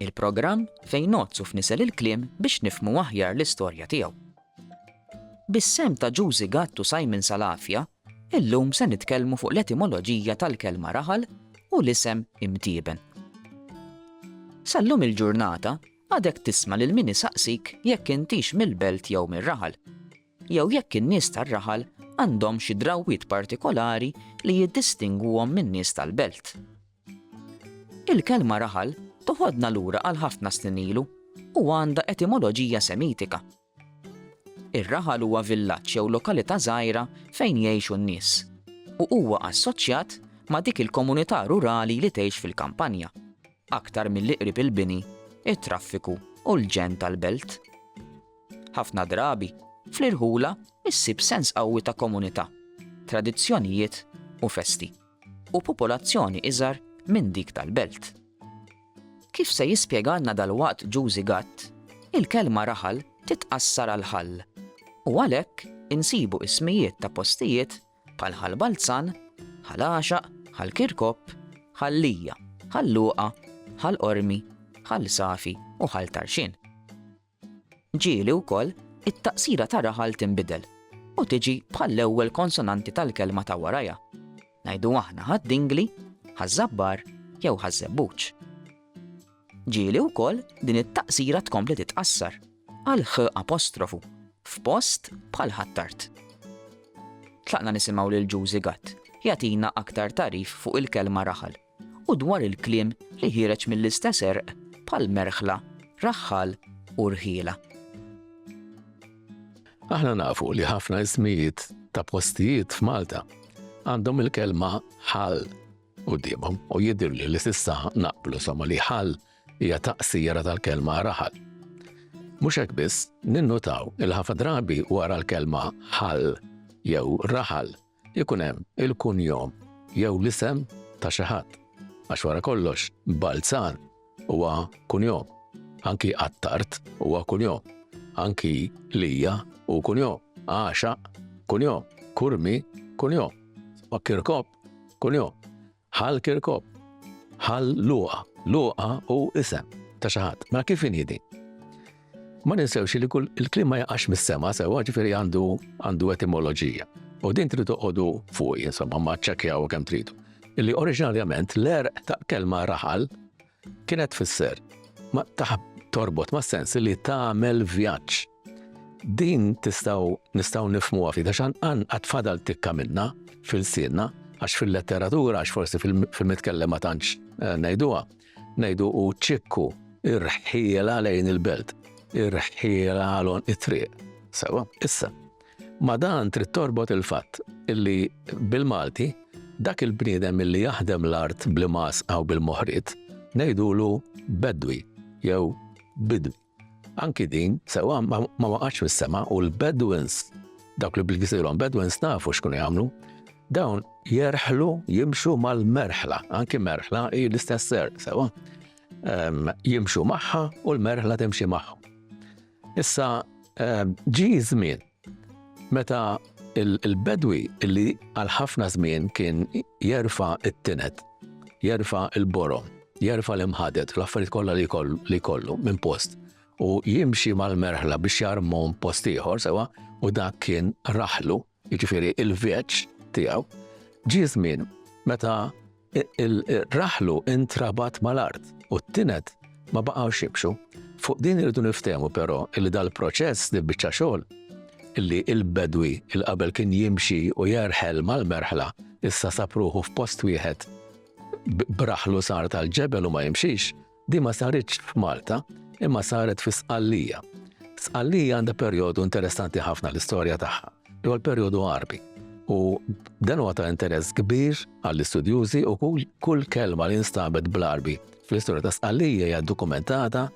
Il-programm fejn ngħodd u fnisel il-kliem biex nifhmu aħjar l-istorja tiegħu. Bis-sehem ta' Ġużi Gatt u Simon Salafia, illum se nitkellmu fuq l-etimoloġija tal-kelma raħal u l-isem imtieben. Sal-lum il-ġurnata, għadek tisma' lil min isaqsik jekk intix mill-belt jew mir-raħal, jew jekk in-nies tar-raħal għandhomx xi drawwiet partikolari li jiddistingwuhom min-nies tal-belt. Il-kelma raħal toħodna lura għal ħafna snin ilu u għandha etimoloġija Semitika. Ir-raħal huwa villaġġ jew lokalità żgħira fejn jgħixu n-nies, u huwa assoċjat ma' dik il-komunità rurali li tgħix fil-kampanja, aktar milli qrib il-bini, it-traffiku u l-ġenn tal-belt. Ħafna drabi, fl-irħula issib sens qawwi ta' komunità, tradizzjonijiet u festi. u popolazzjoni iżgħar minn dik tal-belt. Kif se jispjegalna dalwaqt Ġużi Gatt, il-kelma raħal titqassar għal ħall u għalhekk insibu ismijiet ta' postijiet bħal Ħal Balzan, Ħal Għaxaq, Ħal Kirkop, Ħal Lija, Ħal Luqa, Ħal Qormi, Ħal Safi u Ħal Tarxien. Ġieli wkoll it-taqsira ta' raħal tinbidel u tiġi bħall-ewwel konsonanti tal-kelma ta' warajha. Ngħidu aħna ħad-dingli, ħaż-żabbar jew ħaż-żebbuġ. Ġieli wkoll din it-taqsira tkompli titqassar għal ħ apostrofu f'post bħal ħattart. Tlaqna nisimgħu lil Ġużi Gatt jagħtina aktar tagħrif fuq il-kelma raħal. u dwar il-kliem li ħiereġ mill-istess għerq bħal merħla, raħħal u rħiela. Aħna nafu li ħafna ismijiet ta' postijiet f'Malta għandhom il-kelma ħal u dimhom u jidir li l-sissa naqblu somma li ħal hija taqsira tal-kelma raħal. Mhux hekk biss, ninnutaw il-ħafa drabi wara l-kelma ħal jew raħal Ikun hemm il-kunjom jew l-isem ta' xi ħadd, għax wara kollox Balzan huwa kunjom, anki Attard huwa kunjom, anki Lia hu kunjom, Għaxaq kunjom, Curmi kunjom, Kirkop kunjom. Hal Kirkop. Hal Luqa. Luqa hu isem ta' xi ħadd. Ma kif inhi din? Ma ninsewx li kull il-kliem ma jaqax mis-sema sewwa ġifieri għandu għandu etimoloġija. U din trid toqogħdu fuq insomma ma ċċekkjaw kemm tridu. Illi oriġinarjament l-erq ta' kelma raħal Kienet tfisser ma taħb torbot ma' sens li tagħmel vjaġġ. Din tistaw nistaw nifmu għafi, għax għan għatfadal tikka minna fil-sinna, għax fil-letteratura, għax forsi fil-mitkellem ma tantx eh, najduwa, najdu u ċikku irħiela lejn il-belt, irħiela għalon it-triq. Sawa, issa, Ma' dan trid torbot il-fatt li bil-Malti dak il-bniedem li jaħdem l-art bl-imgħasqa u bil-moħriet ngħidulu Bedwi jew Bidwi. Anki din sewwa ma waqgħetx mis-sema u l-Bedouins, dawk li bil-gżirhom Bedouins nafu x'kienu jagħmlu, dawn jerħlu jimxu mal-merħla, anki merħla hi l-istess ser, sewwa. Ehm, jimxu magħha u l-merħla timxi magħhom. Issa ġie ż-żmien meta l-bedwi li għal ħafna żmien kien jerfa' t-tined, jerfa' l-borom, jerfa' l-imħaded, l-affarijiet kollha li jkollu minn post u jimxi mal-merħla biex jarmhom post ieħor sewwa u dak kien raħlu, jiġifieri il-vjeġġ tiegħu, ġie żmien meta raħlu intrabat mal-art u t-tined ma baqgħux jimxu. Fuq din irridu niftehmu però li dal-proċess, dil-biċċa xogħol, li l-bedwi il qabel kien jimxi u jerħel mal-merħla, issa sab ruħu f'post wieħed b'raħlu sar tal-ġebel u ma jimxix, Din ma saritx f'Malta, imma saret fi Sqallija. Sqallija għandha perjodu interessanti ħafna l-istorja tagħha, li huwa l-perjodu Għarbi. U dan huwa ta' interess kbir għall-istudjużi u kull kelma li nstabet bl-Għarbi fl-istorja ta' Sqallija hija dokumentata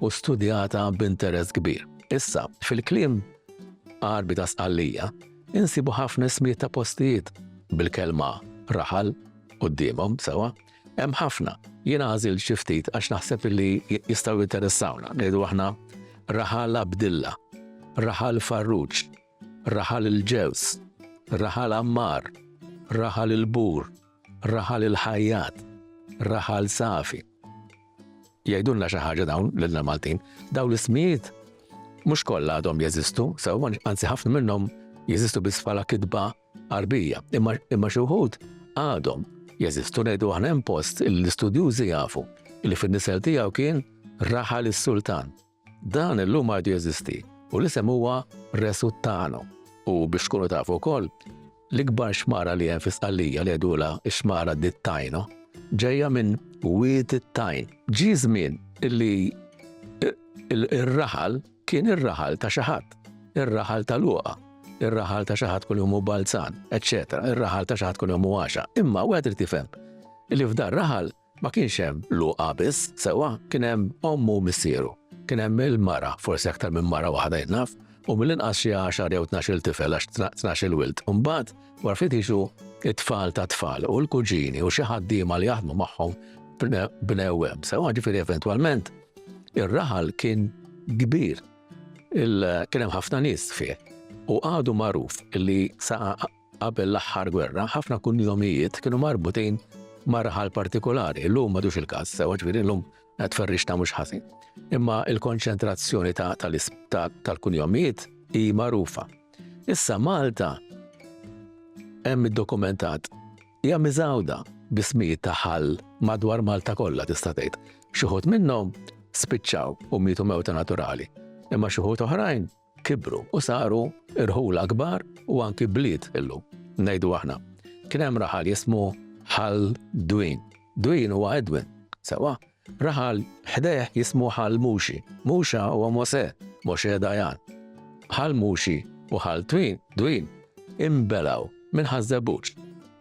u studjata b'interess kbir. Issa, fil-kliem Għarbi ta' Sqallija, insibu ħafna ismijiet ta' postijiet bil-kelma raħal qudiemhom sewa, Hemm ħafna. Jiena għażilt xi ftit għax naħseb li jistgħu jinteressawna, ngħidu aħna Raħal Abdilla, Raħal Farruġ, Raħal il-Ġews, Raħal Ammar, Raħal il-Bur, Raħal il-Ħajjat, Raħal Safi. Jgħidulna xi ħaġa dawn lilna Maltin. Dawn l-ismijiet mhux kollha għadhom jeżistu, sew anzi ħafna minnhom jeżistu biss bħala kitba Għarbija, imma imma xi wħud għadhom jeżistu ngħidu aħna hemm post li l-istudjużi jafu li fin-nisel tiegħu kien raħal is-sultan. Dan illum għadu jeżisti u l-isem huwa Resuttano. U biex tkunu tafu wkoll, l-ikbar xmara li hemm fi Sqallija li għedula x-xmara dit-tajno ġejja minn wied it-tajn. Ġi żmien illi ir-raħal Kien ir-raħal ta' xi ħadd, ir-raħal ta' Luqa, ir-raħal ta' xi ħadd kull jum hu Balzan, eċċetera, ir-raħal ta' xi ħadd kull jum hu Għaxa. Imma wieħed irid jifhem li f'dar raħal ma kienx hemm Luqa biss, sewwa, kien hemm ommu u missieru. Kien hemm il-mara, forsi aktar minn mara waħda jien naf, u mill-inqas xi għaxar jew tnax-il tifel għax tnax-il wild. U mbagħad wara ftit jiġu it-tfal ta' tfal u l-kuġini u xi ħaddiema li jaħdmu magħhom bnew hemm. Sewwa ġifieri eventwalment Ir-raħal kien kbir, kien hemm ħafna nies fih u għadu magħruf li sa qabel l-aħħar gwerra ħafna kunjomijiet kienu marbutin ma' raħal partikolari, l-lum madux il-każ, sewa ġifieri l-lum qed ferrix ta' mhux ħażin. Imma il-konċentrazzjoni tal-kunjomijiet hi magħrufa. Issa Malta hemm iddokumentat Hija miżgħuda bi smijiet ta' ħall madwar Malta kollha tista' tgħid. Xi wħud minnhom spiċċaw u mietu mewta naturali, imma xi wħud oħrajn kibru u saru irħula kbar u anki bliet illum. Ngħidu aħna. Kien hemm raħal jismu ħal Dwin. Dwin huwa Edwin, sewa, Raħal ħdejh jismu Ħal Muxi. Muxa huwa Mosè, Moshe Dayan. Ħal Muxi u Ħal Twin, Dwin, inbelgħu minn Ħaż-Żebbuġ.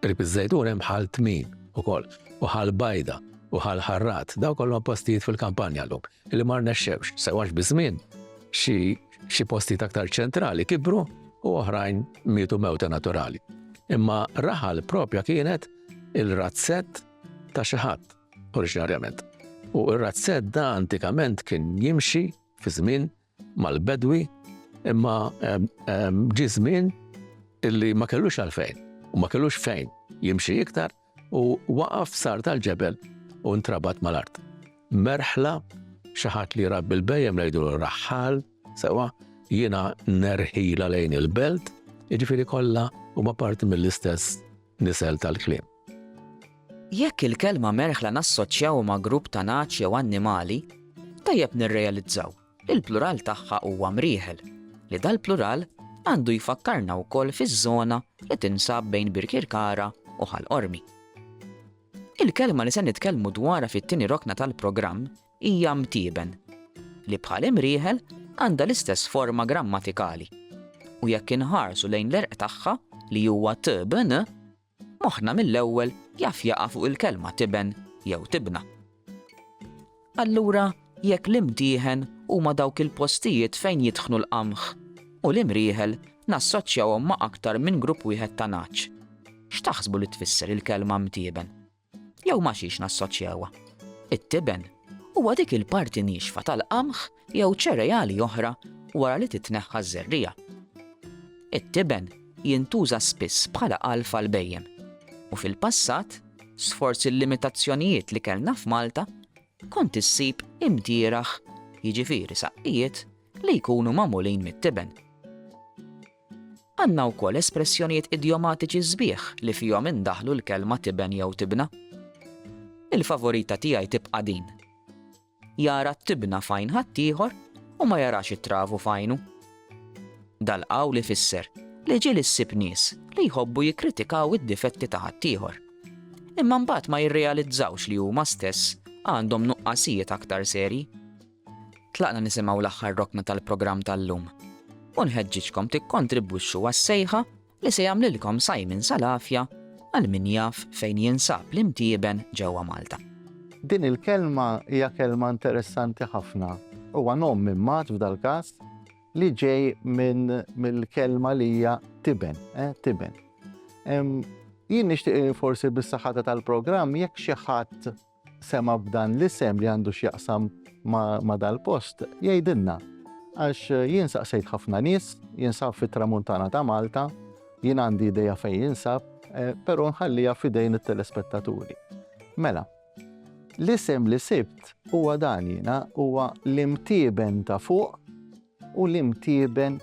Qrib iż-Żejtun hemm Ħal Tmin ukoll u Ħal Bajda u Ħal Ħarrat, dawn kollhom postijiet fil-kampanja llum li ma rnexxewx sew għax biż-żmien xi xi postijiet aktar ċentrali kibru u oħrajn mietu mewta naturali. Imma Raħal propja kienet il-razzett ta' xi ħadd. oriġinarjament. U r-razzedda antikament kien jimxi fi żmien mal-bedwi imma ehm, ehm, ġi żmien illi ma kellux għalfejn u ma kellux fejn jimxi iktar u waqaf sar tal-ġebel u ntrabat mal-art. Merħla xaħat li rabbi l-bejjem lejdu l-raħħal, sewa jiena nerħila lejn il-belt, iġifiri kollha huma parti mill-istess nisel tal-klim. Jekk il-kelma merħla nassoċjaw ma' grupp ta' nagħaġ jew annimali, tajjeb nirrealizzaw li l-plural tagħha huwa mrieħel, li dal-plural għandu jfakkarna wkoll fiż-żona li tinsab bejn Birkirkara u Ħal Qormi. Il-kelma li se nitkellmu dwarha fit-tieni rokna tal-programm hija mtieben, li bħal imrieħel għandha l-istess forma grammatikali u jekk inħarsu lejn l-erq tagħha li huwa tbn, Moħħna mill-ewwel jaf jaqa' fuq il-kelma tiben jew tibna. Allura jekk l-imtieħen huma dawk il-postijiet fejn jitħnu l-qamħ u l-imrieħel nassoċjawhom ma' aktar minn grupp wieħed ta' nagħaġ, x'taħsbu li tfisser il-kelma mtieben? Jew ma' xiex nassoċjawha? It-tiben huwa dik il-parti niexfa tal-qamħ jew ċereali oħra wara li titneħħa ż-żerriegħa. It-tiben jintuża spiss bħala għalf għall-bhejjem, u fil-passat, sforz il-limitazzjonijiet li kellna f'Malta, kont issib imdieraħ, jiġifieri saqqijiet, li jkunu magħmulin mit-tiben. Għandna wkoll espressjonijiet idjomatiċi sbieħ li fihom indaħħlu l-kelma tiben jew tibna. Il-favorita tiegħi tibqa' din. Jara t-tibna f'għajn ħaddieħor u ma jarax it-travu f'għajnu. Dal-qawl ifisser li ġieli ssib nies li jħobbu jikkritikaw id-difetti ta' ħaddieħor imma mbagħad ma jirrealizzawx li huma stess għandhom nuqqasijiet aktar serji. Tlaqna nisimgħu l-aħħar rokna tal-programm tal-lum u nħeġġiġkom tikkontribwixxu għas-sejħa li se jagħmlilkom Simon Salafja għal min jaf fejn jinsab l-imtieben ġewwa Malta. Din il-kelma hija kelma interessanti ħafna. Huwa nom minn mat f'dal-każ li ġej minn mill-kelma li hija tiben, eh, tiben. Jien nixtieq forsi bis-saħħata tal-programm jekk xi ħadd sema' b'dan l-isem li għandu x'jaqsam ma' dal-post, jgħidilna. Għax jien saqsejt ħafna nies, jinsab fit-Tramuntana ta' Malta, jien għandi idea fejn jinsab, però nħalliha f'idejn it-telespettaturi. Mela, l-isem li sibt huwa dan jiena, huwa l-Imtieben ta' Fuq. u l-imtieben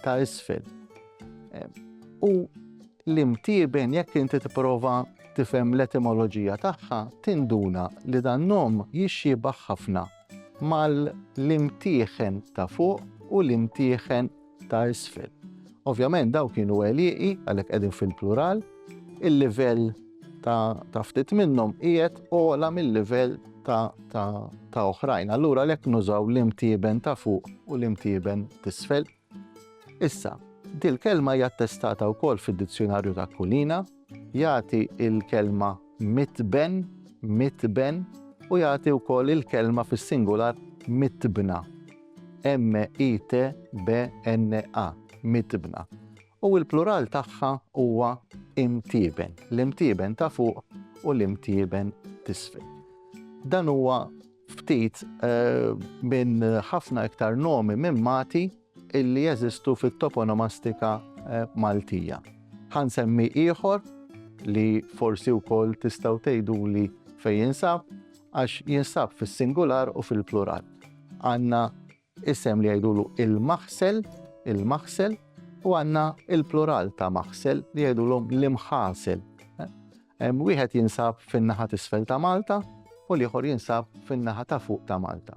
ta' isfel. U l-imtieben jekk inti tipprova tifhem l-etimoloġija tagħha tinduna li dan nom jixxiebah ħafna mal-imtieħen ta' fuq u l-imtieħen ta' isfel. Ovvjament daw kienu għelieqi għalhekk qegħdin fil-plural, il-livell ta' ftit minnhom qiegħed ogħla mil-livell ta' oħrajn. Allura għalhekk nużaw l-imtieben ta' fuq u l-imtieben t'isfel. Issa, dil-kelma hija attestata wkoll fid-Dizzjunarju ta' Kulina, jagħti l-kelma mitben, mitben, u jagħti wkoll il-kelma fis-singular mitbna. M-I-T-B-N-A, mitbna. u l-plural tagħha huwa imtieben, l-imtieben ta' fuq u l-imtieben t'isfel. Dan huwa ftit eh, minn ħafna iktar nomi minn mati illi jeżistu fit-toponomastika eh, Maltija. Ħan semmi ieħor li forsi wkoll tistgħu tgħiduli fejn jinsab għax jinsab fis-singular u fil-plural. Għanna Isem li jgħidulu il-maħsel, il-maħsel, u għandna il-plural ta' maħsel li jgħidulhom l-imħasel. Wieħed jinsab fin-naħa t'isfel ta' Malta u l-ieħor jinsab fin-naħa ta' fuq ta' Malta.